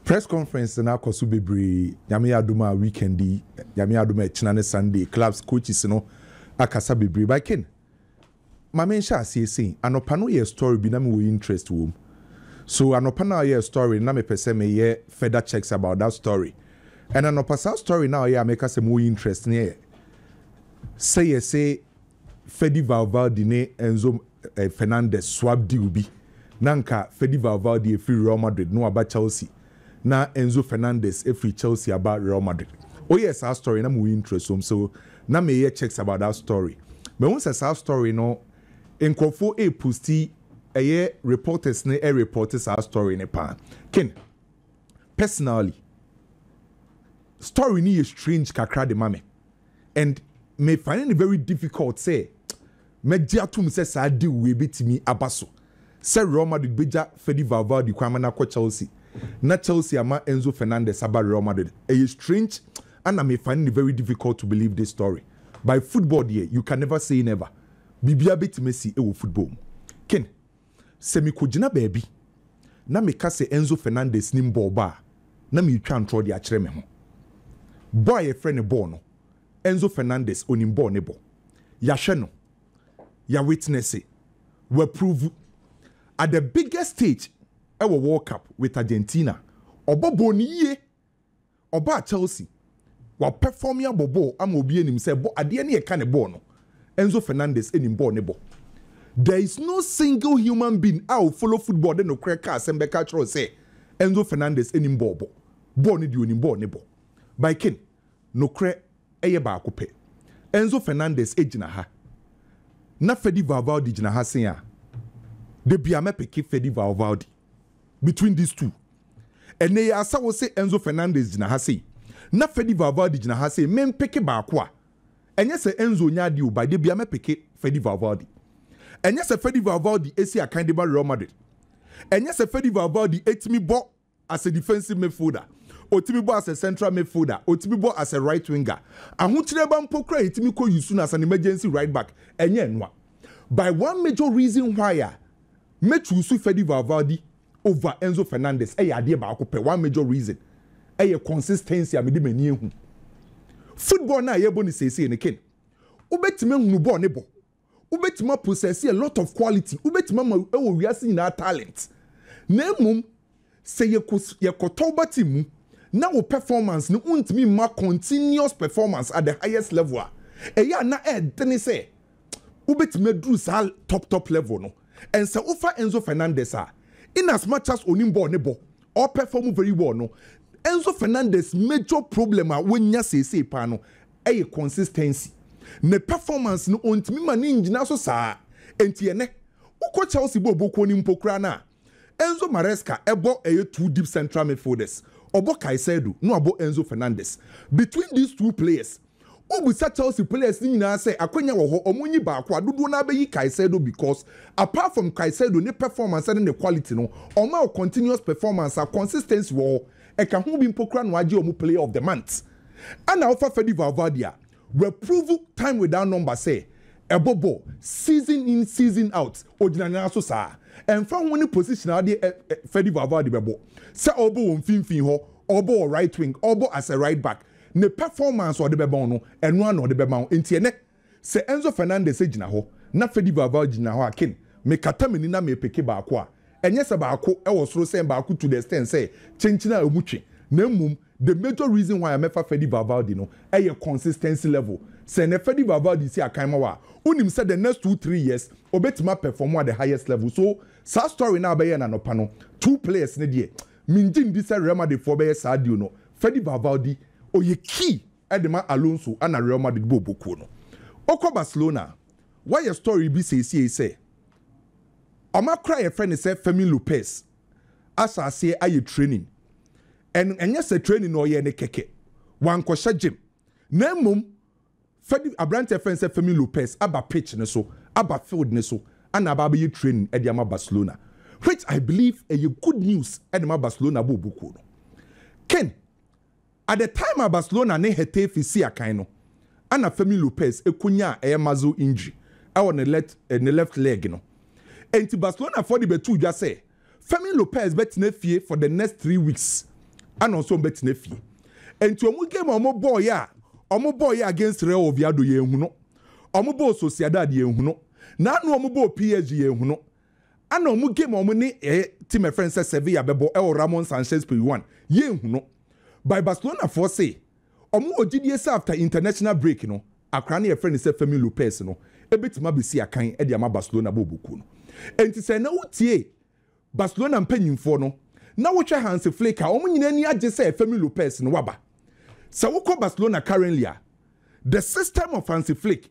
Press conference no akɔ so bebree, Nyame adom a weekend yi, Nyame adom a ɛkyena ne Sunday, clubs coaches no akasa bebree, but Ken, ma me nhyɛ aseɛ sei, anɔpa no yɛ story bi na me wɔ interest wɔ mu, so anɔpa no a ɔyɛ story no na mepɛ sɛ me yɛ further checks about that story, and anɔpa saa story no a ɔyɛ a meka sɛ me wɔ interest no yɛ sɛ yɛse Fedi Valvaldi ne Enzo Fernandez swap deal bi. Na anka Fedi Valvaldi afiri Real Madrid na waba Chelsea na Enzo Fernandez afiri Chelsea aba Real Madrid. Oyɛɛ saa story na mewɔ ntrasom so na meyɛ checks about that story. Mahu sɛ saa story no nkurɔfoɔ reposti ɛyɛ reporters no reporte saa story no paa. Ken, personally story no yɛ strange kakra de ma me. and me finding it very difficult sɛ mɛgye atom sɛ saa deal wei bɛtumi aba so sɛ Real Madrid bɛgya Fedi Valverde kwan ma no akɔ Chelsea na Chelsea ama Enzo Fernandez aba Real Madrid. Ɛyɛ strange ana me finding it very difficult to believe this story by football deɛ you can never say never biribiara bɛtumi asi wɔ football mu. Ken. Sɛ mikogyina baabi na meka sɛ Enzo Fernandez nim bɔɔl bɔ a, na meretwa ntorɔ de akyerɛ me ho. Bɔ a yɛfrɛ no bɔɔl no, Enzo Fernandez, ɔnim bɔɔl no bɔ. Yɛahwɛ no. Yɛawitnɛse. Wapuruvu. At the biggest stage wɔ World Cup with Argentina, ɔbɔ bɔɔl no yie ɔbaa Chelsea, wapɛfɔme abɔ bɔɔl ama obiara nim sɛ bɔ adeɛ ne yɛka ne bɔɔl no, Enzo Fernandez nim bɔɔl ne bɔ. There is no single human being a ɔfollow football de nokorɛ ka asɛm bɛka akyerɛ wo sɛ Enzo Fernandez nim bɔɔl bɔ. Bɔɔl no deɛ ɔnim bɔɔl ne bɔ. By Ken, nokorɛ ɛyɛ baako pɛ. Enzo Fernandez gyina ha na Fedi Valvaldi gyina ha se a, da biara mɛpeke Fedi Valvaldi. between these two. Ɛnɛ yi asa wo se Enzo Fernandez gyina ha sei na Fedi Valverde gyina ha sei me mpeke baako a, ɛnyɛ sɛ Enzo nyɛ adeɛ o, by da bia mɛpeke Fedi Valverde. Ɛnyɛ sɛ Fedi Valverde esi akan de ba Real Madrid. Ɛnyɛ sɛ Fedi Valverde etumi bɔ as a defensive midfielder, otumi bɔ as a central midfielder, otumi bɔ as a right winger. Ahokyerɛba mpo kora etumi kɔ use no as an emergency right back, ɛnyɛ ɛnoa. By one major reason why a Mɛtu nso Fedi Valvaldi over Enzo Fernandez ɛyɛ adeɛ baako pɛ, one major reason ɛyɛ consistency a mede m'ani ahu. Football no a yɛbɔ no seesei no Ken, wobɛtumi ahunu bɔɔl no bɔ, wobɛtumi apossess a lot of quality, wobɛtumi ama ɛwɔ wiase nyinaa talent na mmom, Sɛ yɛkɔ Tauba team mu na wo performance no wontumi mma continuous performance at the highest level a, ɛyɛ a na ɛdene sɛ wobɛtumi aduru saa top top level no. And sɛ wofa Enzo Fernandez a, in as much as ɔnim bɔɔl no bɔ, ɔperform very well no, Enzo Fernandez major problem a wanya seesei paa no yɛ consistency. Ne performance no ɔntumi ma no nnyina so saa. Enti ɛnɛ wokɔ Chelsea bɔɔlbɔ kuo no mpo koraa no a, Enzo Maresca bɔ ɛyɛ two deep central midfielders, ɔbɔ Caicedo na wabɔ Enzo Fernandez. Between these two players, wobisa Chelsea players no nyinaa sɛ akwanya wɔ hɔ wɔnyi baako a, dodoɔ no ara bɛyi Caicedo because apart from Caicedo ne performance ne ne quality no, ɔma wo continuous performance a consistency wɔ hɔ, ɛka ho bi mpo koraa na wagye wɔn player of the month. Ɛna wofa Fede Valverde a, W'aprovu time without number sɛ ɛbɔbɔ season in season out ogyina nan so saa ɛnfa ho ne position adeɛ ɛ ɛ Fɛdi Valverde bɛbɔ sɛ ɔbɔ wɔ mfinfin hɔ ɔbɔ wɔ right wing ɔbɔ as a right back ne performance ɔde bɛma wo no ɛno ara na ɔde bɛma wo nti ɛnɛ sɛ Enzo Fernandez gyina hɔ na Fɛdi Valverde gyina hɔ a kin mekata m'ani na mepeke baako a ɛnyɛ sɛ baako wɔ soro sɛn baako to the extent sɛ kyenkyene a emu twe na mmom The major reason why a mɛfa Fedi Valvaldi no yɛ consistency level. Sɛ nnɛ Fedi Valvaldi si akan ma wo a, wonim sɛ the next two, three years obetumi a perform at the highest level. So saa story no a bɛyɛɛ no anɔpa no, two players no deɛ, mennye nni sɛ Real Madrid foɔ bɛyɛ saa deal no. Fedi Valvaldi, ɔyɛ key de ma Alonso ɛna Real Madrid bɔ ɔbɔ kuo no. Wokɔ Barcelona a, wɔayɛ story bi seesiei sɛ wɔakora a yɛfrɛ no sɛ Fermin Lopez. asa aseɛ ayɛ training and ɛnyɛ sɛ training na ɔyɛ ne kɛkɛ wankɔhyɛ gym na mmom fɛdi aberanteɛ fɛn sɛ Fermin Lopez aba pitch ne so aba field ne so ana aba abɛyɛ training ɛde ama Barcelona which I believe ɛyɛ good news ɛde ma Barcelona bɔ obukuo no Ken At the time a Barcelona ne Getafe sii akan no, ana Fermin Lopez konyaa ɛyɛ muscle injury wɔ ne left ne left leg no. Enti Barcelonafoɔ de bɛtoo dwa sɛ Fermin Lopez bɛtena fie for the next three weeks ana ɔnso ɔbɛtena fie. Enti wɔn game a wɔbɔɔeɛ a wɔbɔɔeɛ against Real Oviedo yɛanhu no, wɔbɔɔ Sociedad yɛanhu no, na ano wɔbɔɔ PSG yɛanhu no, Ana ɔmo game a ɔmo ne ɛyɛ team a ɛfrɛ no sɛ Sevilla bɛbɔ ɛwɔ Ramon Sanchez Pizjuan yɛnhu no by Barcelona foɔ se ɔmo wɔ gyidie sɛ after international break no akwadaa no a yɛfrɛ no sɛ Fermin Lopez no ɛbɛtumi abɛsi akan de ama Barcelona bɔɔlbɔkuo no ɛnti sɛ na wotie Barcelona mpanyinfoɔ no na wohwɛ Hansi Flick a ɔmo nyinaa ani agye sɛ Fermin Lopez no waba sɛ wokɔ Barcelona currently a the system of Hansi Flick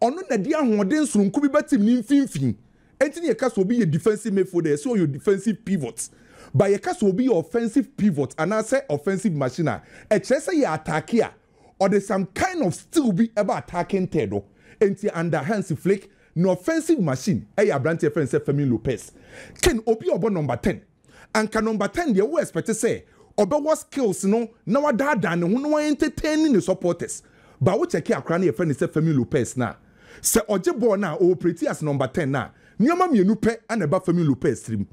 Ɔno na ɛde ahoɔden soronko bi bɛtem ne mfimfini. Enti na yɛka sɛ obi yɛ defensive midfielder, yɛse ɔyɛ o defensive pivot. But yɛka sɛ obi yɛ offensive pivot anaasɛ offensive machine a, ɛkyerɛ sɛ yɛ ataake a, ɔde some kind of skill bi ba attacking third hɔ. Enti under Hansi Flick, ne offensive machine yɛ aberante a yɛfrɛ no sɛ Fermin Lopez. Kane, obi a ɔbɔ number ten. anka number ten deɛ wo expect sɛ ɔbɛwɔ skills no na wadaadaa ne ho na wa entertain ne supporters but wo check akora no yɛfrɛ no sɛ Fermin Lopez no a sɛ ɔgye bɔɔl no a ɔ operate as number ten no a nneɛma mmienu pɛ na ɛba Fermin Lopez tirim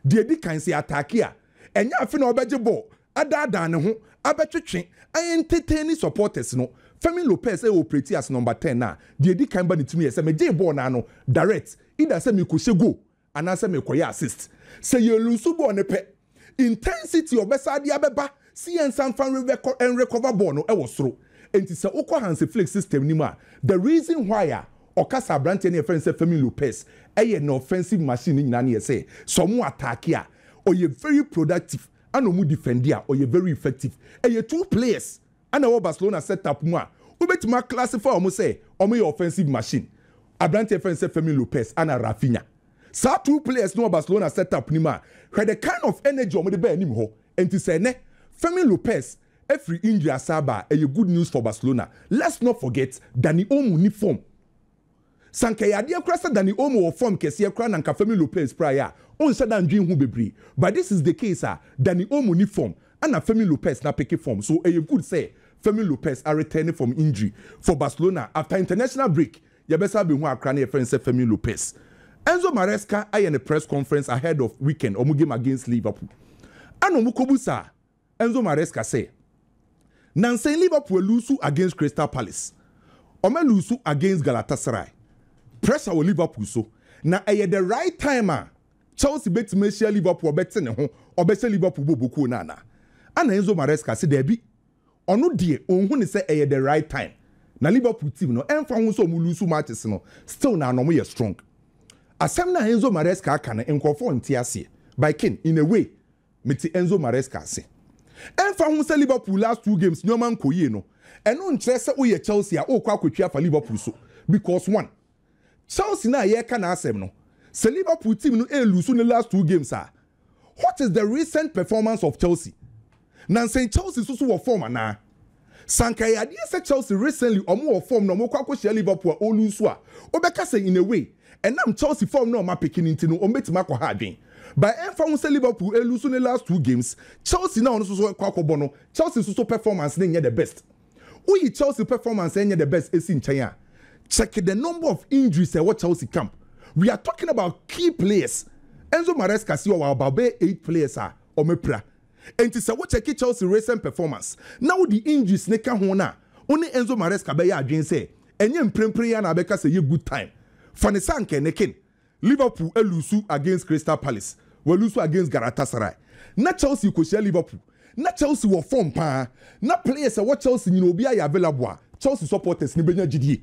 deɛ ɛdi kan sɛ yɛ attack a ɛnyɛ afe na ɔbɛgye bɔɔl adaadaa ne ho abɛtwetwe a entertain supporters no Fermin Lopez ɛ operate as number ten no a deɛ ɛdi kan ba ne tirim yɛ sɛ megyee bɔɔl no ano direct either sɛ mekɔhyɛ goal Anaasɛ mekɔyɛ assist. Sɛ yɛ lusu bɔɔl no pɛ, intensity a ɔbɛsan de abɛba se yɛn nsa mfa nrecover bɔɔl no wɔ soro. Enti sɛ wokɔ Hansi Flick system no mu a, the reason why a ɔka sɛ abranteɛ no a yɛfrɛ no sɛ Fermin Lopez yɛ ne offensive machine no nyinaa no yɛ sɛ, sɛ wɔn attack a, ɔyɛ very productive, ɛna wɔn defend a, ɔyɛ very effective. Ɛyɛ two players Ana ɛwɔ Barcelona setup mu a wobɛtumi a classify wɔn sɛ wɔyɛ offensive machine? Aberanteɛ fɛn sɛ Fermin Lopez ana Raphinha? Saa two players no wɔ Barcelona setup no mu a hwɛ the kind of energy wɔde ba anim hɔ. Ɛnti sɛ ɛnɛ Fermin Lopez firi injury asan aba a ɛyɛ good news for Barcelona. Let's not forget Dani Olmo nni form. Sɛ anka ɛyɛ adeɛ koraa sɛ Dani Olmo wɔ fɔm kɛseɛ koraa na anka Fermin Lopez piraeɛ a ɔnhyɛ da ndwen ho bebree but this is the case a Dani Olmo nni fɔm ɛna Fermin Lopez no apeke fɔm so ɛyɛ good sɛ Fermin Lopez aretɛne from injury for Barcelona after international break yɛbɛsan abɛhu akora no yɛfrɛ no sɛ Fermin Lopez Enzo Maresca ayɛ ne press conference ahead of weekend wɔn game against Liverpool ɛna wɔkɔbu saa Enzo Maresca sɛ, Nnansa yi Liverpool alusu against Crystal Palace, wɔalusu against Galatasaray. Pressure wɔ Liverpool so, na ɛyɛ the right time a Chelsea bɛtumi ahyia Liverpool a ɔbɛte ne ho, ɔbɛhyɛ Liverpool bɔbɔ kuo no anaa? Ɛna Enzo Maresca se daabi, ɔno deɛ ɔnhu ne sɛ ɛyɛ the right time. Na Liverpool team no, ɛmfa ho sɛ wɔlusu matches no, still na na wɔyɛ strong. Asɛm no a Enzo Maresca aka no, nkurɔfoɔ nte aseɛ, but Ken, in a way, Mete Enzo Maresca ase. Ɛmfa ho sɛ Liverpool last two games nneɛma nkɔ yie no, ɛno nkyerɛ sɛ woyɛ Chelsea a worekɔ akɔtwi afa Liverpool so because one, Chelsea no a yɛreka n'asɛm no, sɛ Liverpool team no ɛɛluusu ne last two games a, what is the recent performance of Chelsea? Nansa yi Chelsea nso so wɔ form anaa? Sɛ anka ɛyɛ adeɛ sɛ Chelsea recently wɔn wɔ form na wɔn kɔ akɔhyia Liverpool a wɔn lose a, wobɛka sɛ in a way ɛnam Chelsea form na wɔn apeke no nti no wɔn bɛtumi akɔ ha adwen. But ɛmfa ho sɛ Liverpool alose ne last two games, Chelsea na wɔn nso so ɛkɔ akɔbɔ no, Chelsea nso so performance no nyɛ the best. Woyi Chelsea performance a ɛnyɛ the best ɛsi nkyɛn a, check the number of injuries a ɛwɔ Chelsea camp. We are talking about key players. Enzo Maresca si ɔwɔ about bɛyɛ eight players a wɔn apira. Enti sɛ wokyɛke Chelsea recent performance na wode injuries no ka ho no a, wo ne Enzo Maresca bɛyɛ adwene sɛ ɛnyɛ mprempren ara na abɛka sɛ ɛyɛ good time. Fa no sɛ anka ɛne Ken. Liverpool aluusu against Crystal Palace, wɔaluusu against Galatasaray. Ná Chelsea rekohyia Liverpool. Ná Chelsea wɔ fɔm paa. Ná players a ɛwɔ Chelsea nyinaa obiara yɛ available a Chelsea supporters no bɛnya gyidie.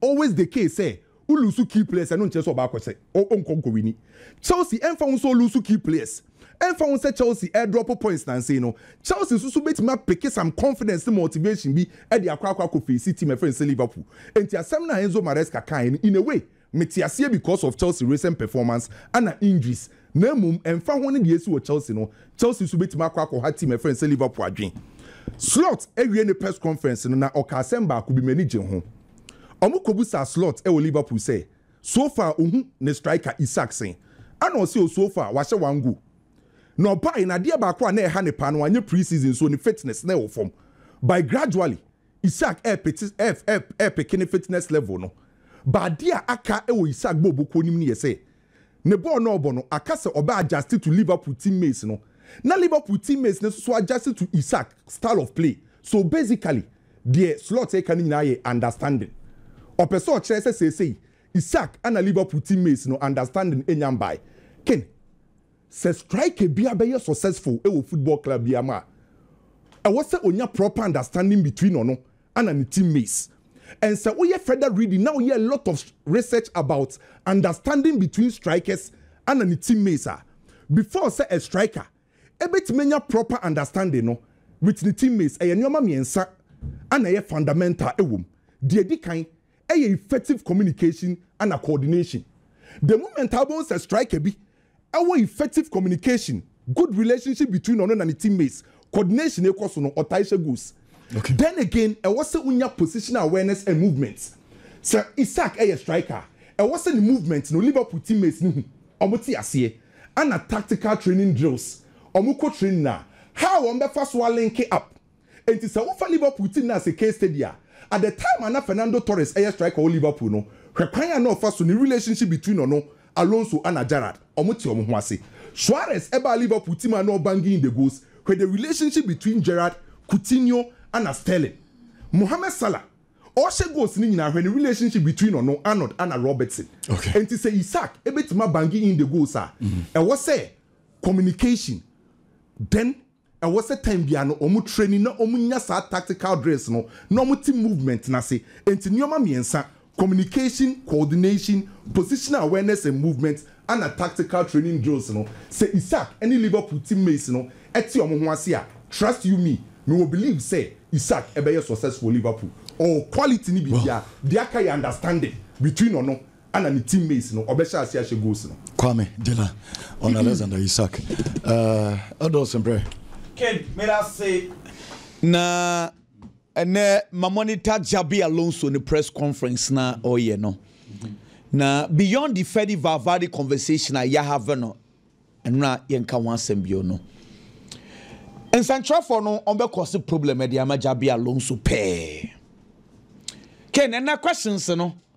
always the case sɛ wo lose key players ɛno nkyerɛ sɛ ɔba akɔ sɛ ɔnkɔ nkɔ wini Chelsea ɛmfa ho sɛ ɔ lose key players ɛmfa ho sɛ Chelsea ɛ drop points nansei no Chelsea nso so bɛtumi apeke some confidence ne motivation bi ɛde akɔ akɔ akɔ face team ɛfrɛ no sɛ Liverpool ɛnti asɛm no a Enzo Maresca kaeɛ no in a way mete aseɛ because of Chelsea recent performance ɛna injuries Na mmom, ɛmfa ho ne nea asi wɔ Chelsea no, Chelsea nso betumi akɔ akɔha team a ɛfrɛ no sɛ Liverpool adwene. Slot awiee ne press conference no na ɔkaa asɛm baako bi, m'ani gyee ho. Wɔkobisaa Slot wɔ Liverpool sɛ, so far ohu ne striker Isak sɛn? Ɛna ɔse, oh, so far wahyɛ one goal. Na ɔbae na adeɛ baako a na ɛha ne paa no wanyɛ pre-season so ne fitness na ɛwɔ fam. By gradually, Isak repeke ne fitness level no. But adeɛ a aka wɔ Isak bɔɔlbɔkuo no mu no yɛ sɛ Ne bɔɔl no a ɔbɔ no, aka sɛ ɔbɛ adjuste to Liverpool team mates no, na Liverpool team mates no nso adjuste to Isak style of play. So basically, deɛ Slot reka no nyinaa yɛ understanding. Ɔpɛ sɛ ɔkyerɛ sɛ seesei Isak na Liverpool team mates no understanding nnya mbae. Ken, sɛ striker biara bɛyɛ successful wɔ football club biara mu a, ɛwɔ sɛ ɔnya proper understanding between ɔno ana ne team mates and sɛ woyɛ further reading na woyɛ a lot of research about understanding between strikers ana ne team mates a before sɛ a striker ɛbɛtumi anya proper understanding no with ne team mates ɛyɛ nnoɔma mmiɛnsa ana ɛyɛ fundamental ɛwɔ mu deɛ ɛdi kan yɛ effective communication ana coordination. The moment a wobɛhu sɛ striker bi wɔ effective communication, good relationship between ɔno na ne team mates, coordination rekɔ so no, ɔtae hyɛ goals. Okay. Then again, ɛwɔ sɛ wonya positional awareness and movements. Sɛ Isak yɛ striker a, ɛwɔ sɛ ne movement no Liverpool team mates no hu, wɔte aseɛ. Ana tactical training drills, wɔkɔ training a, how wɔbɛfa so a linke up Enti sɛ wofa Liverpool team no as a case study a, at the time a na Fernando Torres yɛ striker wɔ Liverpool no, hwɛ kwan a na ɔfa so ne relationship between ɔno, Alonso ana Gerrard, wɔn te wɔn ho ase. Suarez baa Liverpool team a na ɔ banging in the goals, hwɛ the relationship between Gerrard, Coutinho ana Sterling. Mohamed Salah, ɔhyɛ goals no nyinaa, hwɛ ne relationship between ɔno, Arnold ana Robertson. Enti sɛ Isak bɛtumi a banging in the goals a, ɛwɔ sɛ communication, then Ɛwɔ sɛ time biara no wɔn training na wɔn nya saa tactical drills no na wɔn te movement no ase. Enti nneɛma mmiɛnsa, communication, coordination, positional awareness and movement ɛna tactical training drills no. Sɛ Isak ne Liverpool team mates no te wɔn ho ase a, trust you me, me wɔ believe sɛ Isak bɛyɛ success wɔ Liverpool. Ɔwɔ quality ne biribiara. Deɛ aka yɛ understanding between ɔno ana ne team mates no ɔbɛhyɛ ase ahyɛ goals no. Kwame, Dela, ɔne Alexander Isak. Ɛɛh, ɛdɔɔso mprɛ. Ken, meda ase. Na ɛnnɛ ma monitor Xabi Alonso ne press conference na ɔyɛ no. Na beyond the Fedi Valverde conversation a yɛ have no, ɛno na yɛnka ho asɛm bio no. Nsɛnkyerɛfoɔ no ɔmbɛ kɔse problem ɛde ama Xabi Alonso pɛɛ. Ken, ɛnnɛ questions no.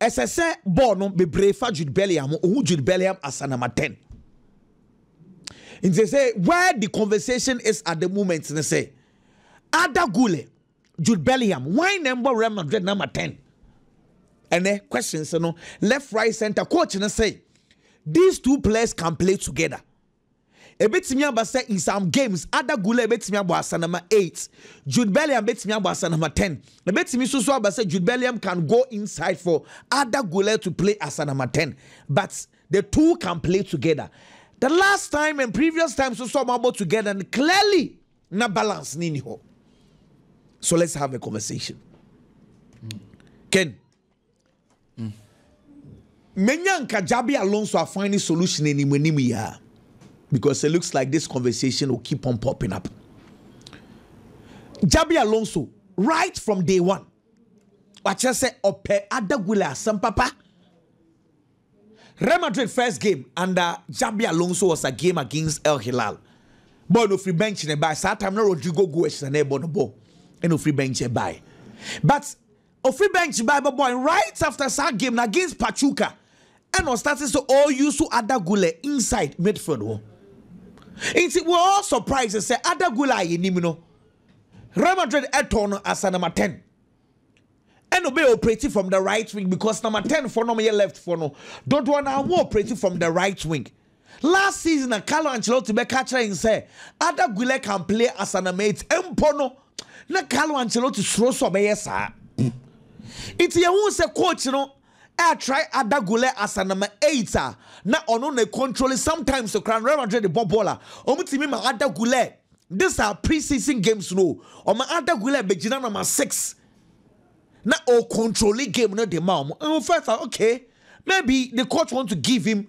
Ɛsɛ sɛ bɔɔl no bebree fa Jude Bellingham ho. Ohu Jude Bellingham as a number ten. Nti sɛ where the conversation is at the moment ne sɛ Arda Güler, Jude Bellingham, why na ɛmbɔ Real Madrid number ten? Ɛnɛ questions no left right center coach ne sɛ these two players can play together. Ebetumi aba sɛ Nsam Games, Ada Gulay betumi abɔ asanama eight, Jude Belliam betumi abɔ asanama ten. Ebetumi nso so aba sɛ Jude Belliam can go inside for Ada Gulay to play asanama ten, but the two can play together. The last time and previous time so so wɔabɔ together no clearly na balance no nni hɔ. So let's have a conversation. Ken. Menya nka Xabi Alonso a finding solution anim anim yi a because it looks like this conversation will keep on popping up. Xabi Alonso right from day one wakyerɛ sɛ ɔpɛ Adagule asɛm papa. Real Madrid first game under Xabi Alonso was a game against El Hilal. Boy no free bench ne by saa time no Rodrigo Goes na na ɛbɔ no bɔ ɛna free bench by. But Ɔfiri bench bae bɛbɔe right after saa game no against Pachuca ɛna ɔstate sɛ ɔreuse Arda Guler inside midfield hɔ. Nti we are all surprised sɛ Arda Guler a yɛnim no Real Madrid tɔn no as a number 10 ɛna ɔbɛyɛ operate from the right wing because number 10 foɔ no wɔyɛ left foɔ no dodoɔ no ara wɔn operate from the right wing. Last season na Carlo Ancelotti bɛka akyerɛ yɛn sɛ Arda Guler can play as a number eight mpo no, na Carlo Ancelotti suro sɛ ɔbɛyɛ saa. Nti yɛhu sɛ coach no ɛretry Arda Guler as a number eight a na ɔno na ɛkontrole sometimes koraa no Real Madrid de bɔ bɔɔl a wɔtumi ma Arda Guler this are pre-season games no ɔma Arda Guler bɛgyina number six na ɔkontrole game no de ma wɔn. First, okay, maybe the coach want to give him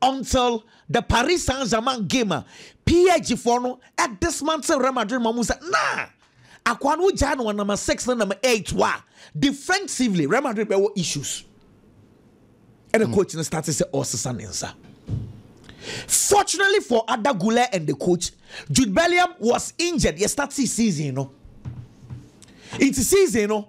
Until the Paris Saint Germain game a PSG foɔ no dismantle Real Madrid ma ɔmo sɛ naa akoa no wogyae no wɔ number six ne number eight hɔ a defensively Real Madrid bɛwɔ issues ɛna mm. coach no start sɛ ɔsesa ne nsa fortunately for Ada Gule and the coach Jude Bellingham was injured yɛ start season no nti season no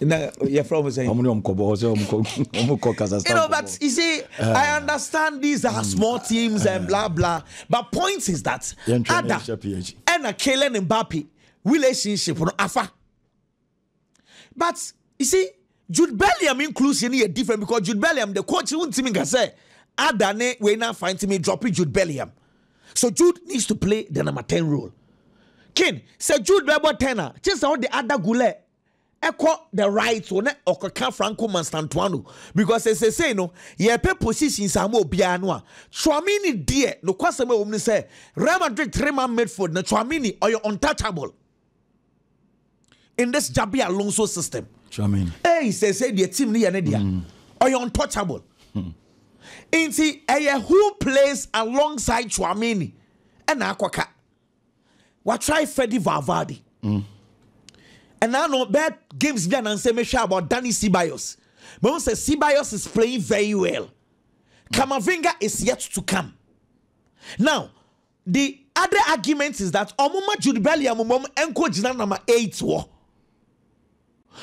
na yɛfrɛ wɔn sɛ. wɔn ne wɔn kɔ bɔ sɛ wɔn kɔ wɔn kɔ kazakhstan. you know but you see uh, i ah. understand these are mm, small teams uh, and ah. blah blah but point is that ada ɛna Kylian Mbappe relationship no afa but you see Jude Bellingham inclusion is different because Jude Bellingham the coach won't team can say ada ne we na find me dropping Jude Bellingham so Jude needs to play the number ten role. King sɛ Jude bɛbɔ ten a kye sɛ ɔde ada gulɛ ɛkɔ the right o na ɔkɔka Franco Manstantuano because sesei no yɛpɛ positions ama obiara no a Tchouameni deɛ nokwasɛm ɛwɔ mu ne sɛ Real Madrid three man midfield na Tchouameni ɔyɛ untouchable in this Xabi Alonso system Tchouameni ɛyi sesei deɛ team no yɛ ne deɛ mm. ɔyɛ untouchable hmm. nti ɛyɛ who plays alongside Tchouameni ɛna akɔka watry fɛdi valvade ɛnaa no bɛɛ games bi anansɛ mehwɛ about danny sibayos mahu sɛ sibayos is playing very well kamavinga is yet to come now the other argument is that ɔmoma jude belliam mmom ɛnkɔ gyina nama 8 wɔ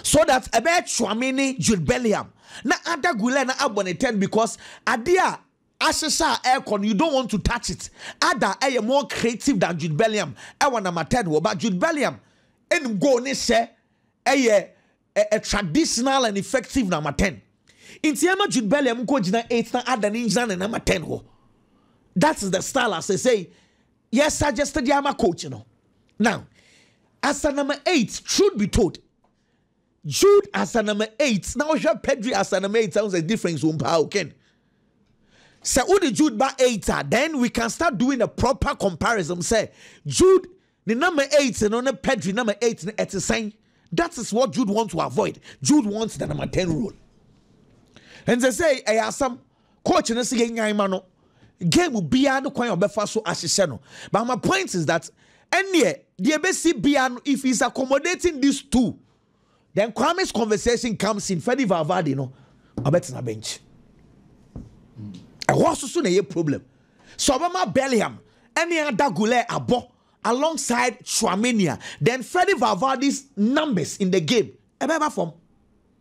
so that ɛbɛyɛ tchouameni jude belliam na ada gulɛ na abɔ ne 10 because adeɛ a Asesa a ɛrekɔ no you don't want to touch it ada ɛyɛ more creative than Jude Belliam ɛwɔ number ten hɔ but Jude Belliam ɛnim goal ne sɛ ɛyɛ ɛ ɛ traditional and effective number ten nti ɛma Jude Belliam nkɔ gyina eight na ada ne ngyina ne number ten hɔ that is the style a sɛsɛi yɛ suggest de ama coach no now as a number eight truth be told Jude asa number eight na wohwɛ Pedri asa number eight sounds as difference wom paa oken. Sɛ wode Jude ba eight a then we can start doing a proper comparison sɛ Jude ne number eight no ne Pedri number eight no ɛte sɛn. That is what Jude wants to avoid. Jude wants the number ten role. And they say ɛyɛ asam. Coach no sɛ yɛnyan ma no game biara no kwan a ɔbɛfa so ahyehyɛ no. But my point is that ɛneɛ deɛ ɛbɛsi biara no if he's accommodating these two then Kwame's conversation comes in Fedi Valverde no ɔbɛtena bench. Ɛhɔ so so na ɛyɛ problem. So ɔbɛma Bellingham ɛne Ada Guler abɔ alongside Tchouameni then Fedi Valverde's numbers in the game ɛbɛba fam.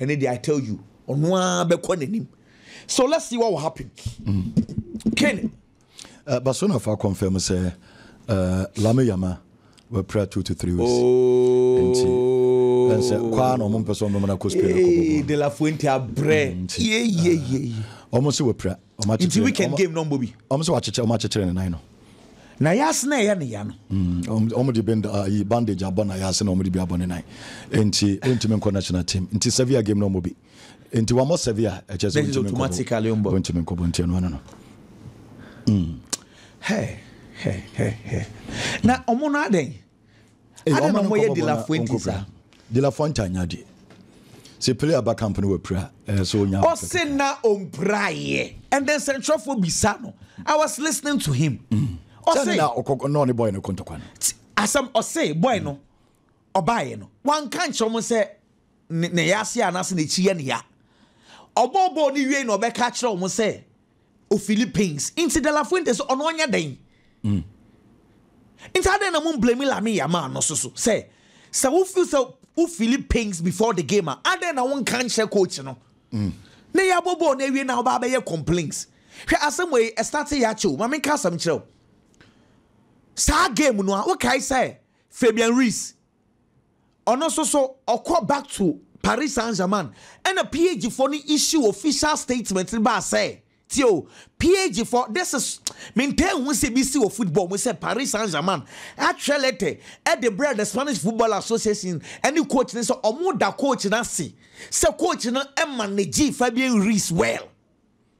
Ɛne deɛ I tell you ɔno ara bɛkɔ n'anim so let's see what will happen. Mm. Ken. Uh, Barcelona fa confirm sɛ uh, Lame Yama wɔapira two to three weeks. Oh. Nti ɛnsɛ kwaa na ɔmo mpɛ sɛ ɔmo mena kɔ Spain kɔ bɔbɔ. De La Fuente abrɛ. Mm, yeyeyeye. Ah, ɔmo sɛ wɔapira. nti weekend game na ɔmbɔ bi ɔm sɛ wakyekyere ɔm akyekyere ne nan no na yɛase na ɛyɛ ne ya no mm, ɔm de bend uh, yi bandage abɔ na yɛase na ɔm de bi abɔ ne nan nti ɔntumi nkɔ national team nti Sevilla game na ɔmbɔ bi nti wɔmmɔ Sevilla ɛkyɛ sɛ ɔntumi nkɔbɔ ɔntumi nkɔbɔ nti ɛno ano no mm. hey, hey, hey, hey. na ɔmo no adɛn Adɛn na wɔyɛ dilafoɔ nti saa? Dilafoɔ ntaa nya adeɛ. Sɛ pire aba camp no wapira ɛyɛ so onya. Ɔse na ɔmpiraeɛ and then sɛnkyerɛfoɔ bisa no I was listening to him. Mm. Ɔse sɛ na ɔkɔ na ɔne boy no kɔntɔkwa no. Asɛm ɔse boy no ɔbaeɛ no wanka nkyerɛ wɔn sɛ ne yɛ ase anaasɛ n'akyi yɛ ne ya. Ɔbɔɔbɔɔ ne wie na ɔbɛka akyerɛ wɔn sɛ o Philippines nti De La Fuente sɛ ɔno ɔnyɛ dɛn mm. nti adɛn na mo blame Lamine Yamal no so so sɛ sɛ wo feel sɛ wo Philippines before the game a adɛn na wo nka nkyerɛ coach no mm. na yɛ abɔ bɔɔl na awie na ɔba abɛyɛ complaints hwɛ asɛm wɔ yi ɛstate yɛ akyɛw ma menka asɛm kyerɛw saa game no a wokae sɛ Fabian Ruiz Ɔno nso so ɔkɔ back to Paris Saint Germain ɛna PSG fo no issue official statement no baa sɛ tie o PSG fo this is mentɛɛ hu sɛ bi si wɔ football mu sɛ Paris Saint Germain atwerɛ lɛtɛ ɛde brɛ the Spanish Football Association ɛne coach no sɛ ɔmo da coach no ase sɛ coach no ɛma ne gye fa bi risk well.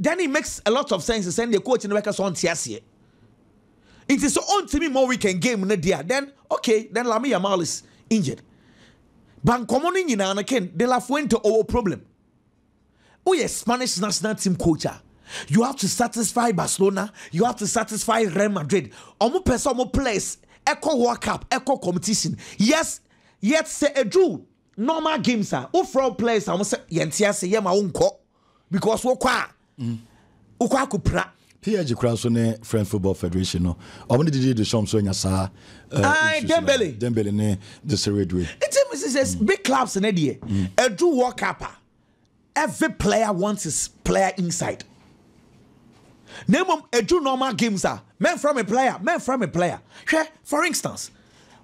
Danny makes a lot of sense sɛ nea coach no bɛka sɛ ɔnte aseɛ nti sɛ ɔntumi mmɔ weekend game no deɛ a then okay then Lamine Yamal is injured ba nkɔmmɔ no nyinaa no Ken de la Fuente ɔwɔ problem woyɛ Spanish national team coach a you have to satisfy Barcelona you have to satisfy Real Madrid ɔmo pɛ sɛ ɔmo players ɛkɔ World Cup ɛkɔ competition yes yet sɛ ɛduru normal games a wofrɛ wo players a wɔn sɛ yɛnte ase yɛma wo nkɔ because wokɔ a mm. wokɔ akɔpira pg kora nso ne french football federation no ɔmo ne didi de sɔm so anya saa eh, dembele dembele ne de sere due nti mi sɛ mm. big clubs ne deɛ mm. ɛdu world cup a every player wants his player inside na mmom ɛdu normal games a mɛnfra me player mɛnfra me player hwɛ for instance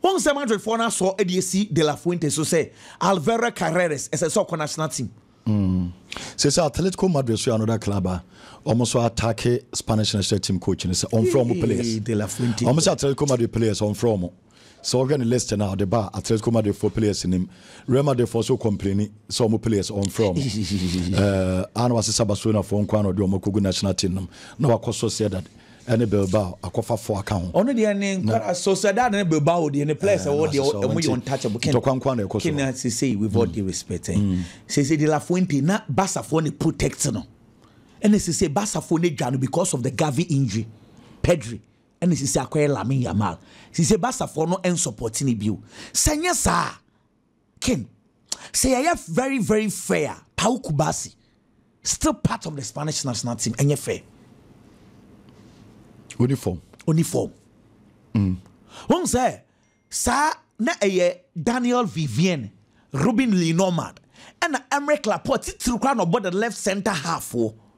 wọn sɛ madridfoɔ no asɔ de asi de la fuente so sɛ alvera carreras ɛsɛ sɛ ɔkɔ national team Mm. Sese Atletico Madrid so yɛ another club a wɔn so atake Spanish national team coach no sɛ ɔnfrɛ wɔn players. Ee, De La Fuente. Wɔn sɛ Atletico Madrid players ɔnfrɛ wɔn. Sɛ wɔhwɛ ne list no a ɔde ba a Atletico Madrid fo players nim. Real Madrid fo so complaini sɛ wɔn players ɔnfrɛ wɔn. Ɛɛ, a na wasesa Barcelona fo nko ara na ɔde wɔn akɔgu national team no mu na wakɔ Sociedad. ne Bilbao akɔfafoɔ aka ho. Ɔno deɛ ne nkwadaa Sociedad ne Bilbao deɛ ne players a wɔwɔ deɛ wɔn yɛ untouchable. Ken Ntɔkwa nko ara na ɛkɔ so hɔ. Ken sesei with all due respect eh sesei De La Fuente na Barcafoɔ na protect no ɛna sesei Barcafoɔ na dwa no because of the Gavi injury Pedri ɛna sesei akɔyɛ Lamine Yamal sesei Barcafoɔ no nsupporti no bio sɛ nyɛ saa a Kim, sɛ yɛyɛ very very fair a, Paul Kubasi still part of the Spanish national team ɛnyɛ fair. Oni form. Oni form. Mm. Wɔn sɛ saa na ɛyɛ Daniel Vivienne, Ruben Lenormand, ɛna Aymeric Laporte titiri koraa na ɔbɔ the left center half wɔ.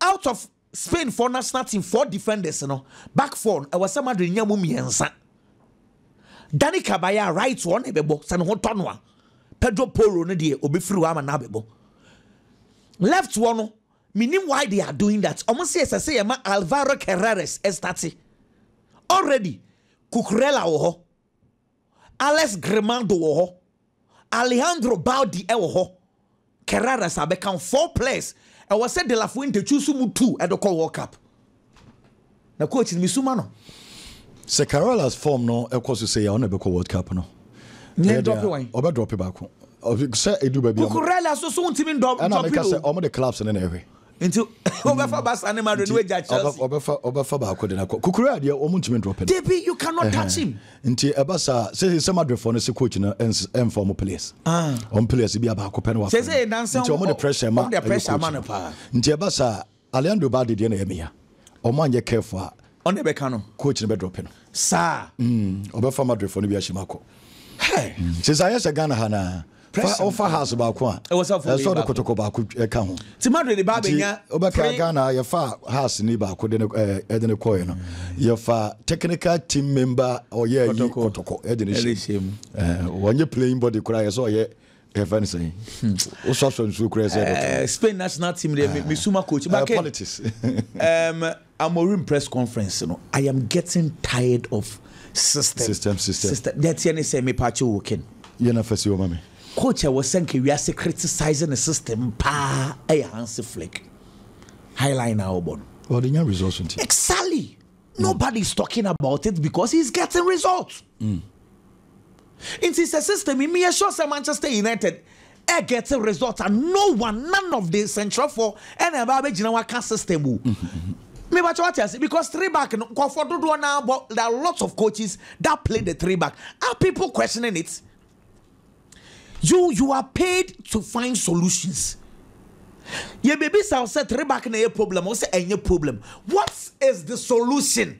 Out of Spain foɔ national team four defenders no, back four no, ɛwɔ sɛ Madrid nya mu mmiɛnsa. Dani Kabaya right ɔno na ɛbɛbɔ sɛ ne ho tɔ no a, Pedro Porro no deɛ ɔbɛfiri hɔ ama no abɛbɔ. Left wɔ no, menim why they are doing that. Wɔn sɛ ɛsɛ sɛ yɛma Alvaro Carreras ɛstate. Already Cucurella wɔ hɔ. Alex Grimado wɔ hɔ, Alejandro Balde wɔ hɔ, Kerraras abɛka ho. Four players ɛwɔ sɛ De La Fuente choose mu two de kɔ World Cup. Na coach no mesu ma no. Sɛ Kerraras form no kɔ so sei a, ɔno na ɛbɛkɔ World Cup no. Nyɛ Ɛyɛ drop dɛn a, wan. Ɔbɛ drop baako. Ɔbɛ- Sɛ edu baabi a. Cucurella so so wontumi ndɔ- Ɛna drop meka no. sɛ ɔmo de clubs no na ɛhwɛ. Nti wobɛfa basa ne madrid no agya chelsea. ɔbɛfa ɔbɛfa baako de no akɔ kokoro a deɛ wɔn ntumi ndrɔpɛ no. Debi you cannot touch him. nti ɛba saa sɛ sɛ madrid fɔ no sɛ coach no ɛnfa wɔn players ah. wɔn players bi a baako pɛ no wafɛ no nti wɔn de pressure ma ɛyɛ coach no nti ɛba saa Alejandro Balde deɛ na ɛyɛ meya. Ɔmo anyɛ careful a. Ɔne bɛka no. Coach no bɛ drop no. Saa. Mm, ɔbɛfa Madrid fɔ no bi ahyɛm akɔ. Hey. Mm, sɛ sɛ ayɛ sɛ Ghana ha naa. Fa ɔfa house baako a. Ɛwɔ sɛ ɔfa wei baako. Ɛsɛ ɔde kotoko baako ɛka ho. Ti Madrid ba abɛnya. Ɔbɛka Ghana yɛfa house ni baako de ne ɛde ne kɔɛ no. Yɛfa technical team member ɔyɛ yi kotoko ɛde ne hyɛ. Wɔnyɛ playing body koraa yɛ sɛ ɔyɛ yɛfɛ no sɛn wosɔsɔ nsuo kora sɛ eh, spain national team deɛ eh. mesuma coach ma eh, politics um, amorim press conference no i am getting tired of system system system system deɛteɛ ne sɛ mepakye wo ken yɛna fa si ɔma me coach a wɔsɛ nka wiase criticise ne system paa ɛyɛ hanse flick highline a wɔbɔ no ɔde nya results nti exactly mm. nobody is talking about it because he's getting results mm. Nti sɛ system yi meyɛ sure sɛ Manchester United ɛɛgɛte result a no one none of the sɛnkyerɛfoɔ ɛna ɛbaa bɛgyina hɔ aka system o. Mebakyɛ wate ase because three back no nkɔfoɔ dodoɔ naa bɔ there are lots of coaches that play the three back are people questioning it you you are paid to find solutions yɛbɛbisa wo sɛ three back na ɛyɛ problem wo sɛ ɛnyɛ problem what is the solution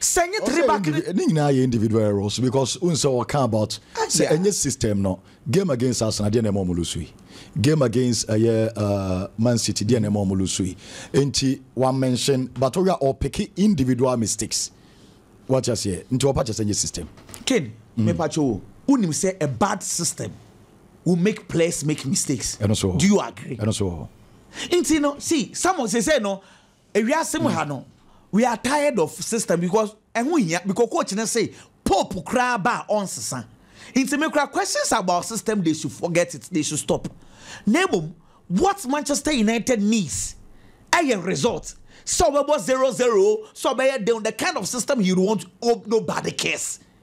sɛ nye three back ne nyinaa yɛ individual errors because n sɛ ɔka about ah, sɛ ɛnyɛ system no game against Arsenal deɛ na ɛma ɔmo lusu yi game against ɛyɛ eh, uh, eh, Man City deɛ na ɛma ɔmo lusu yi nti wa mention but ɔyɛ ɔpeke individual mistakes wate aseɛ nti ɔpa kyɛ sɛ nyɛ system. Ken mm. mepatwo wo wonim sɛ a bad system will make players make mistakes. ɛno so do you agree. ɛno so nti no see some say say no Ewiase mu ha no we are tired of system because ɛho hia because coach ne se pope koraa ba a ɔnsesa nti me koraa questions about system they should forget it they should stop na mmom what Manchester United needs ɛyɛ result sɛ ɔbɛbɔ zero zero sɛ ɔbɛyɛ den the kind of system he would want oh, nobody cares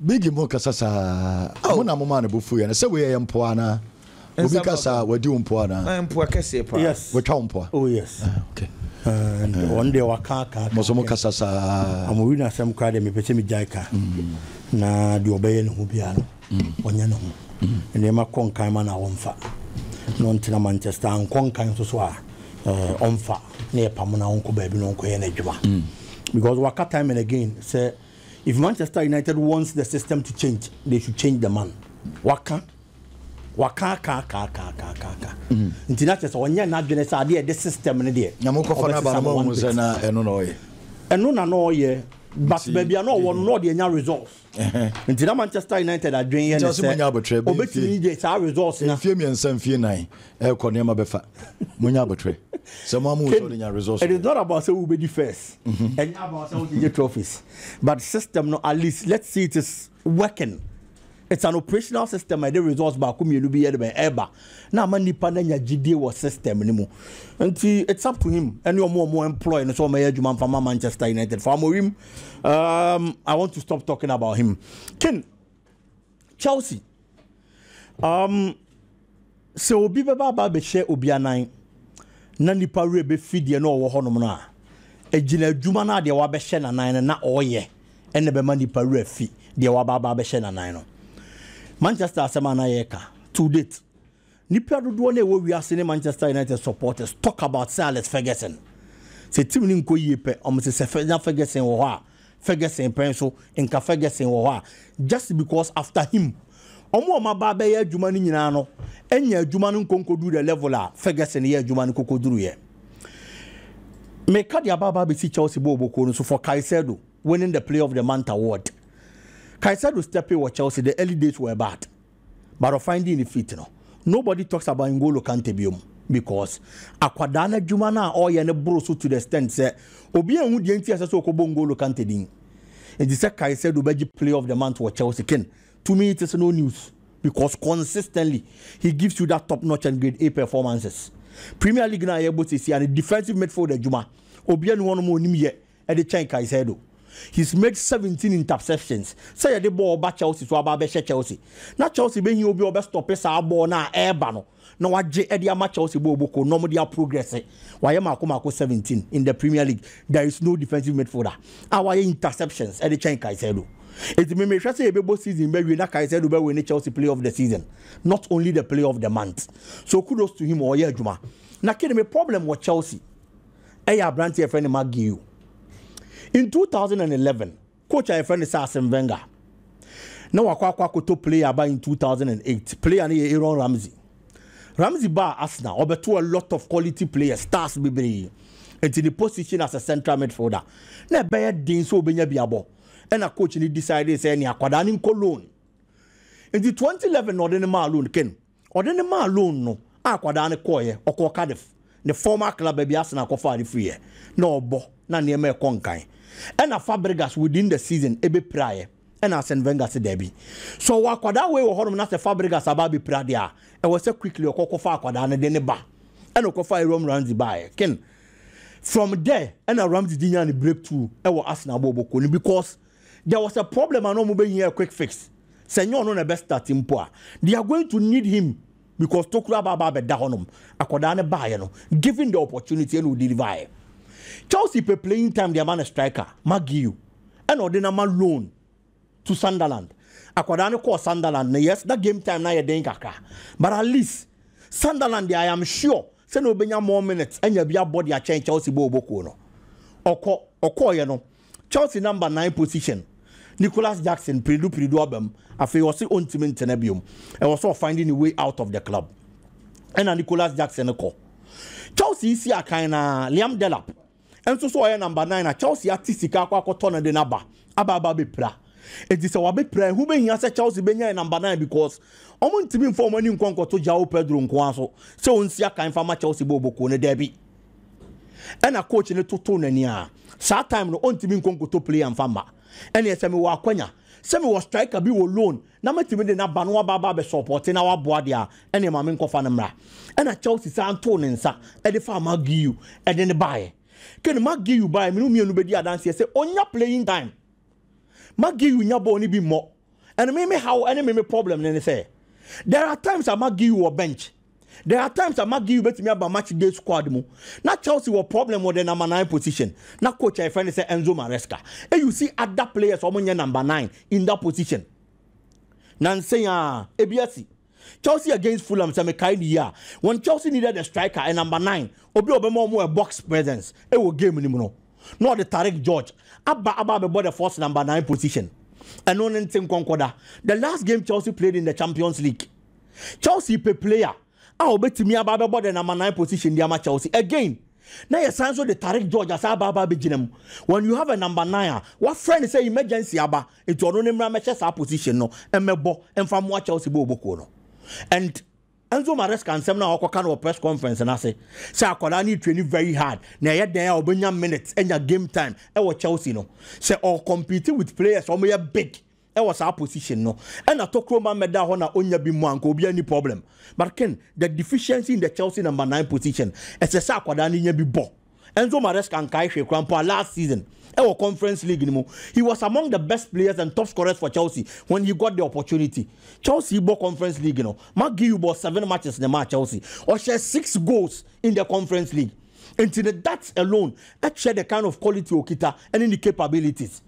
Biggie mo kasa saa. Mo na mo maa ne bo fuiɛ no. Sɛ wei ɛyɛ mpoa anaa? Obi ka saa wadi wo mpoa anaa? Ah, mpoa kɛseɛ paa. Yes. Watwa wo mpoa? Oh yes. Ah, okay. Uh, wɔn deɛ waka aka aka. Mo so mo kasa saa. Wɔn wi na asɛm koraa deɛ mepɛ sɛ megyae ka. Mm. Na deɛ ɔbɛyɛ ne ho biara no, mm. ɔnyɛ ne ho. Mm. Nneɛma kɔ nkan ma na wɔmfa. Na ɔntena Manchester ankɔ nkan nso so a eh, ɔmfa na yɛpamo na ɔnkɔ baabi na ɔnkɔyɛ n'adwuma. Mm. Because waka time and again sɛ If Manchester United wants the system to change, they should change the man. Waka. Waka aka aka aka aka aka aka. Mm. Nti na kyerɛ sɛ ɔnyɛ n'adwene sɛ adeɛ ɛde system no deɛ. Na mokɔfa no aba no ma ɔhu sɛ na ɛno na ɔyɛ. Ɛno na na ɔyɛ. But baabi a na ɔwɔ no na ɔde anya results. Nti na Manchester United adwene yɛ ne sɛ ɔbɛtumi de saa results na. Mfie mmiɛnsa mfie nan ɛkɔ nneɛma bɛfa monya abotire sɛ mo amu nso de nya results. it is not about sɛ wobɛdi first ɛnyɛ mm-hmm. about sɛ wode nye trophies but system no at least let's see it is working it's an operational system ɛde results baako mmienu bi yɛ de bɛn ɛba na ama nipa na nya gyidie wɔ system no mu nti it's up to him ɛne ɔmo ɔmo employ no sɛ ɔmo yɛ adwuma nfa ma manchester united for amorim um, i want to stop talking about him ken Chelsea, um, sɛ obi bɛba aba abɛhyɛ obi anan na nipa werɛ bɛfi deɛ na ɔwɔ hɔnom no a ɛgyina adwuma no a deɛ wabɛhyɛ n'anan no na ɔyɛ ɛna bɛma nipa werɛ fi deɛ waba aba abɛhyɛ n'anan no Manchester asɛm a na yɛka to date Nnipa dodoɔ no a ɛwɔ wiase ne Manchester United supporters talk about Sir Alex Ferguson. Sɛ team no nkɔ yie pɛ, wɔn se sɛ na Ferguson wɔ hɔ a, Ferguson pɛn so, nka Ferguson wɔ hɔ a, just because after him. Wɔn a wɔn aba abɛyɛ adwuma no nyinaa no anya adwuma no nkɔnkɔduru the level a Ferguson yɛ adwuma no kɔkɔduruiɛ. Meka de aba aba abɛsi Chelsea bɔɔlbɔkuo no so for Caicedo winning the player of the month award. Caicedo stepping wɔ Chelsea, the early days were bad. but ɔfan dii ne feet no nobody talks about N'Golo Kante biom because akwadaa no adwuma no a ɔreyɛ no boro so to the extent sɛ obiara nhu deɛ nti a ɛsɛ sɛ ɔkɔbɔ N'Golo Kante din nti sɛ Caicedo bɛgye player of the month wɔ Chelsea ken to me it is no news because consistently he gives you that top notch and grade A performances Premier League no a yɛbɔ seesia no defensive midfield adwuma obiara ni hɔ nom a ɔnim yɛ de kyɛn Caicedo. He's made seventeen interceptions sɛ yɛde bɔɔl ba Chelsea so aba abɛhyɛ Chelsea. Na Chelsea bɛhia obi a ɔbɛstɔpe saa bɔɔl no a ɛreba no na wagye de ama Chelsea bɔɔl boko na wɔde aprogrɛse. Wayɛ maako maako seventeen in the Premier League. There is no defensive midfielder a wayɛ interceptions de kyɛn Caicedo. Enti me mehwɛ sɛ yɛbɛbɔ season bɛwie na Caicedo bɛwe ne Chelsea player of the season not only the player of the month. So kudos to him ɔreyɛ adwuma. Na Kane me problem wɔ Chelsea. yɛ aberante a yɛfrɛ no Mark Guiu. In 2011, coach a yɛfrɛ no sɛ Arsene Wenger na wakɔ akɔ akɔtɔ player aba in 2008. Player no yɛ Aaron Ramsey. Ramsey baa Arsenal, ɔbɛto a lot of quality players, stars bebree. Nti ne position as a central midfielder na ɛbɛyɛ den sɛ obenya bi abɔ. Ɛna coach no decide sɛ ɛne akwadaa no nkɔ loan. Nti 2011 na ɔde no maa loan ken. Ɔde no maa loan no a akwadaa no kɔeɛ, ɔkɔɔ Cardiff, ne former club baabi a Arsenal kɔfaa no firiiɛ, na ɔrebɔ, na nneɛma rekɔ nkan. Ɛna Fabregas within the season bɛpiraeɛ, ɛna Arsene Wenger se daabi. Sɛ ɔwɔ akwadaa wei wɔ hɔnom na sɛ Fabregas aba abɛpira deɛ a, ɛwɔ sɛ quickly ɔkɔ kɔfa akwadaa no de no ba. Ɛna ɔkɔfaa Aaron Ramsey baeɛ. Ken, From there ɛna Ramsey gye nyaa ne breakthrough wɔ Arsenal bɔɔlbɔ kuo no because There was a problem a na ɔmo behia a quick fix. Sɛ nyɛ ɔno na ɛbɛ start mpo a, they are going to need him because tokuro aba aba abɛda hɔnom. Akwadaa no baeɛ no, given the opportunity ɛna ɔdeliver'eɛ. Chelsea pɛ playing time de ama no striker, Maguire, ɛna ɔde no ama loan to Sunderland. Akwadaa no kɔɔ Sunderland no, yes, na game time no ayɛ den kakra, but at least Sunderland deɛ I am sure sɛ na ɔbɛnya more minutes anya bi abɔ de akyɛn Chelsea bɔɔlbɔkuo no. Ɔkɔ, ɔkɔeɛ no, Chelsea number nine position Nicolas Jackson pirdu pirdu aba mu afei ɔse ɔntumi ntena biom ɛwɔ sɛ ɔfinde ne way out of the club ɛna Nicolas Jackson kɔ Chelsea isi akan na Liam Delap nso so ɔyɛ number nine na Chelsea ate sika akɔ akɔtɔ no de no aba aba aba bɛpira enti sɛ wabɛpira ɛho bɛhia sɛ Chelsea bɛnya yɛ number nine because wɔn ntumi mfa wɔn ani nkɔ nkɔto João Pedro nkoa so sɛ ɔnsi akan fa ma Chelsea bɔ ɔbɔkuo no daabi ɛna coach no toto n'ani a saa time no ɔntumi nkɔ nkoto player mfa mma ɛneɛ sɛ mewɔ akwanya sɛ mewɔ striker bi wɔ loan na mɛtumi de n'aba no aba aba bɛsɔpɔte na waboa deɛ a ɛneɛ ma menkɔfa no mmra ɛna Chelsea saa ntoo ne nsa ɛde faa McGeew ɛde ne baeɛ kane McGeew baeɛ mene mmienu bɛdi adanseɛ sɛ ɔnya playing time Magiyu nya bɔɔl no bi mmɔ. And me me haw ne me me problem ne ne sɛ, there are times a Magiyu wɔ bench. There are times a Magiyu betumi aba match day squad mu. Na Chelsea wɔ problem wɔ the number nine position. Na coach a yɛfrɛ ne sɛ Enzo Maresca. E you see other players a wɔnyɛ number nine in that position. Nansa yi a, ebi asi. Chelsea against Fulham sɛ mekae ne yie a, wɔn Chelsea needed a striker, a number nine, obi a ɔbɛma wɔn a box presence wɔ game no mu no. Na ɔde Tarek George aba aba abɛbɔ the false number nine position. Ɛno ne nte nkɔnkɔda. The last game Chelsea played in the Champions League, Chelsea pɛ player a ɔbɛtumi aba abɛbɔ the number nine position de ama Chelsea. Again, na yɛsan so de Tarek George asa aba aba abɛgyina mu. When you have a number nine a, wɔafrɛ no sɛ emergency aba, Enti ɔno ne mmra mmɛhyɛ saa position no mmɛbɔ mfa mmoa Chelsea bɔ obokuo no. And Enzo Maresca nsɛm no a ɔkɔka no wɔ press conference no ase sɛ akwadaa no retraini very hard na ɛyɛ dɛn a ɔbɛnya minutes anya game time ɛwɔ Chelsea no. Sɛ ɔcompete with players a wɔyɛ big ɛwɔ saa position no ɛna tokuro mma mmɛda hɔ na ɔnya bi mu a nka obiara nni problem. But Ken, the deficiency in the Chelsea number nine position ɛsɛ sɛ akwadaa no nya bi bɔ. Enzo Maresca nkae hwee koraa mpo a last season wɔ Conference League no mu, he was among the best players and top scorers for Chelsea when he got the opportunity. Chelsea bɔ Conference League no, McGeough bɔɔ seven matches na ɛmaa Chelsea. Ɔhyɛɛ six goals in the Conference League. Nti no that alone kyerɛ the kind of quality okita ne ne capabilities.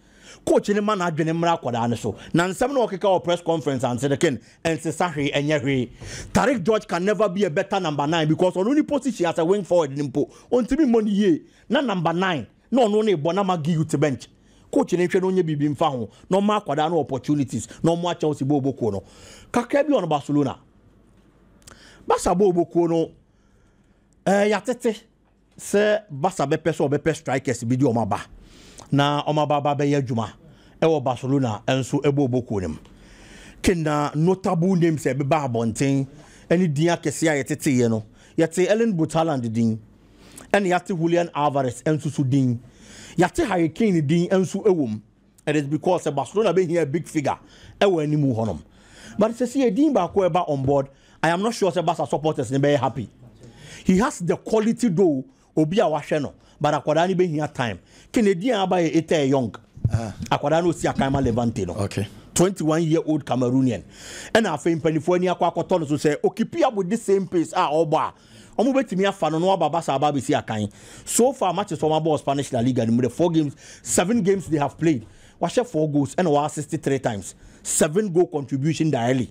Coach no ma n'adwene mmra akwadaa no so na nsɛm no a ɔkeka wɔ press conference ante no ken nsesa hwee ɛnyɛ hwee. Tariq George can never be a better number nine because ɔno ne position as a wing forward no mpo ɔntumi mmɔ no yie na number nine na ɔno ne rebɔ na ama Guiu te bench. Coach no nhwɛ na ɔnyɛ biribi mfa ho na ɔmma akwadaa no opportunities na ɔmmoa Chelsea bɔɔlbɔ kuo no kakra bi ɔno Barcelona Barca bɔɔlbɔ kuo no eh, yɛatete. sɛ Barca bɛpɛ sɛ wɔbɛpɛ strikers bi de wɔn aba na wɔn aba aba abɛyɛ adwuma wɔ Barcelona nso bɔ ɔbɔ kuo no mu. Kena notable names a ɛbɛba abɔnten ne din akɛseɛ a yɛteteeɛ no, yɛtee Erling Braut Haaland din, ɛna yɛate Julian Alvarez nso so din. Yɛate Harry Kane din nso wɔ mu. it is because sɛ Barcelona bɛhia a big figure ɛwɔ anim hɔ nom but sɛ si edin baako ɛba on board I am not sure sɛ Barca supporters ne bɛyɛ happy he has the quality though obi a wahwɛ no but akwadaa no bɛhia time kene edin a aba yɛ Ether Young ah. akwadaa no osi akan ma Levante no okay. 21 year old Cameroonian ɛna afei mpanimfoɔ ani akɔ akɔtɔ no so sɛ okipi up with the same pace a ɔbɔ a Wɔbɛtumi afa no na waba Barca aba abɛsi akan. So far matches a wɔabɔ wɔ Spanish La Liga no mu dɛ, four games, seven games they have played, wahyɛ four goals ɛna wɔassist three times. Seven goal contribution daily.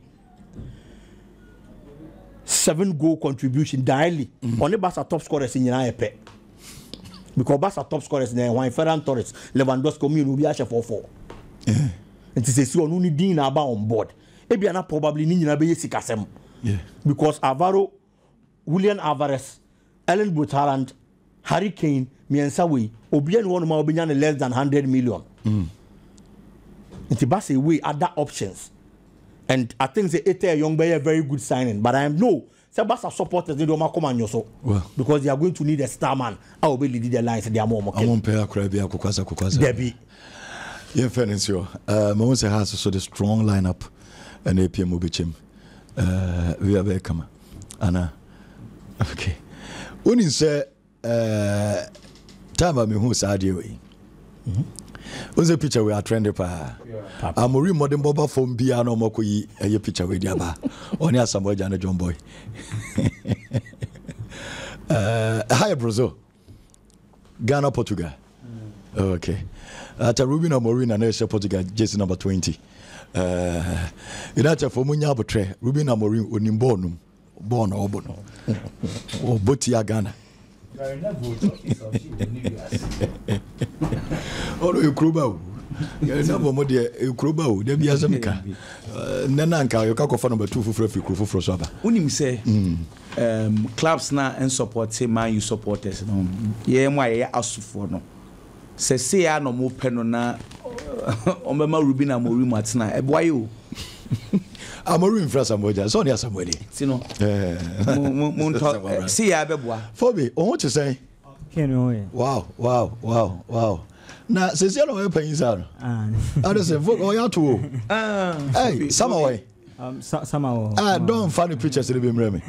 Seven goal contribution daily. Mm. Ɔne Barca top scorers nyinaa yɛ pɛ. Because Barca top scorers na ɛhwan Ferran Torres, Lewandowski, ɔmo yɛ no obi ahyɛ four four. Eh. Nti sɛ si ɔno ne din na aba on board. Ebia na probably ne nyinaa bɛyɛ sikasɛm because Alvaro, Julian Alvarez, Erling Braut Haaland, Harry Kane mmiɛnsa wei obiara ni hɔnom a ɔbɛnya ne less than hundred million. Mm. Nti ba sɛ wei ada options and I think sɛ Ita Young bɛyɛ very good signing but I know Sɛ Barca supporters no de wɔn akoma nyɔ so because they are going to need a star man a ɔbɛ lead the lines de ama wɔn kɛm. Wɔn mpɛ akora bi akokwasa kokwasa. Dabi. Yɛn fɛ ne nsi hɔ. Ɛɛ mɛ wɔn sɛ Hearts so de strong line up ɛna epie mu bɛkyɛm. Ɛɛ bi abɛyɛ kama ana okay. Wɔn nsɛ Eh, time a mehu saa adeɛ wei wosɛ mhm. picture wei atrend paa amori mmɔden bɔba fam biara na ɔmɔkɔ yi ɛyɛ picture wei de aba ɔne asamoa agya ne john boy eh, ɛha yɛ boroso ghana portugal mm. okay ata ruben amorim na na ɛhyɛ portugal jesi number 20 eh, united fo mu nya abotrɛ ruben amorim onim bɔɔl no mu bɔɔl na ɔbɔ no ɔbɔ tia ghana ɔno yɛ kuroba o yɛnabɔ mo deɛ ɛkuroba o da bi asɛm ka nnɛ no anka yɛka kɔfa no bɛto foforɔ afiri kuro foforɔ so aba wonim sɛ mm. clubs no a ɛnsupporte man u supporters no yɛyɛ mu a yɛyɛ asofoɔ no Sɛ sei ara na wɔpɛ no na wɔbɛma Ruben Amorim atena a, ɛboa yɛ o. Amorim mfiri Asamoah gya, sɛ ɔne Asamoah ni. Ti no, mo ntɔ, sei ara bɛboa. Fobe, wo ho te sɛn? Ken me ho yɛ. Wow, wow, wow, wow. Na sɛsi ara ɔyɛ panyin saa no. Ade sɛ, Fobe, ɔyɛ ato o. Ɛy, Sama wɔ he? Um, Sama wɔ hɔ. Ah, dɔn fa ne pictures no bi mmerɛ me.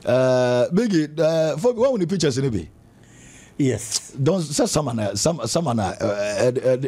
Uh, Biggie, uh, Fobe, wɔn wo ne pictures no bi? Yes, don sɛ sama na sama na ɛde ɛde.